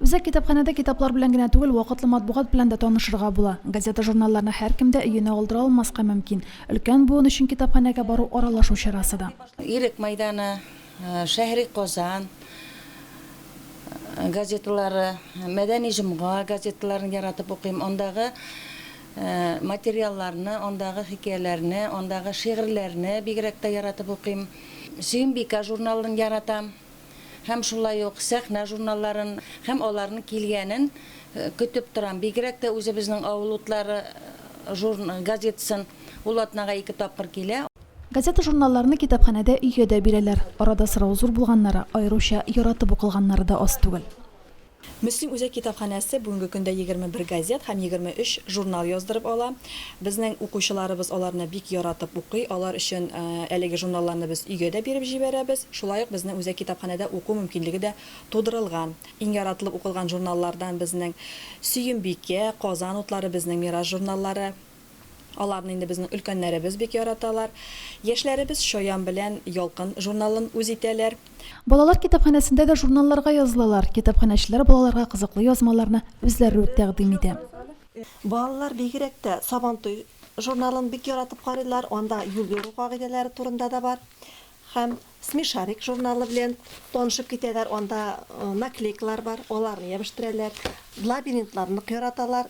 Үзәк китапханәдә китаплар белән генә түгел, вакытлы матбугат белән дә танышырга була. Газета-журналларны һәркем дә өенә алдыра алмаска мөмкин. Өлкән буын өчен китапханәгә бару аралашу чарасы да. Ирек мәйданы, Шәһри Казан газеталары, Мәдәни җомга газеталарын яратып укыйм. Андагы материалларны, андагы хикәяләрне, андагы шигырьләрне бигрәк тә яратып укыйм. Сөембикә журналын яратам. һәм шулай ук сәхнә журналларын һәм аларның килгәнен көтеп торам. Бигрәк тә үзебезнең Авыл утлары жур газетасын, ул атнага ике тапкыр килә. Газета-журналларны китапханәдә өйгә дә бирәләр. Арада сорау зур булганнары, аеруча яратып укылганнары да аз түгел. Мөслим үзәк китапханәсе бүгенге көндә егерме бер газет һәм егерме өч журнал яздырып ала. Безнең укучыларыбыз аларны бик яратып укый. Алар өчен әлеге журналларны без өйгә дә биреп җибәрәбез. Шулай ук безнең үзәк китапханәдә уку мөмкинлеге дә тудырылган. Иң яратылып укылган журналлардан безнең Сөембикә, Казан утлары, Безнең мирас журналлары. Аларны инде безнең өлкәннәребез бик яраталар. Яшьләребез Чаян белән Ялкын журналын үз итәләр. Балалар китапханәсендә дә журналларга язылалар. Китапханәчеләр балаларга кызыклы язмаларны үзләре үк тәкъдим итә. Балалар бигрәк тә Сабантуй журналын бик яратып карыйлар, анда юл йөрү кагыйдәләре турында да бар. Һәм Смешарик журналы белән танышып китәләр, анда наклейкалар бар, аларны ябештерәләр. Лабиринтларны нык яраталар.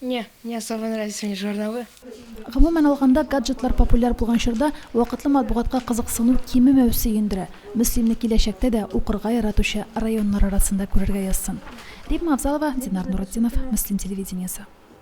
Не, не особо нравятся мне журналы. Гомумән алганда, гаджетлар популяр булган чорда вакытлы матбугатка кызыксыну кимемәү сөендерә. Мөслимне киләчәктә дә укырга яратучы районнар арасында күрергә язсын. Римма Авзалова, Динар Нуретдинов, Мөслим телевидениесе.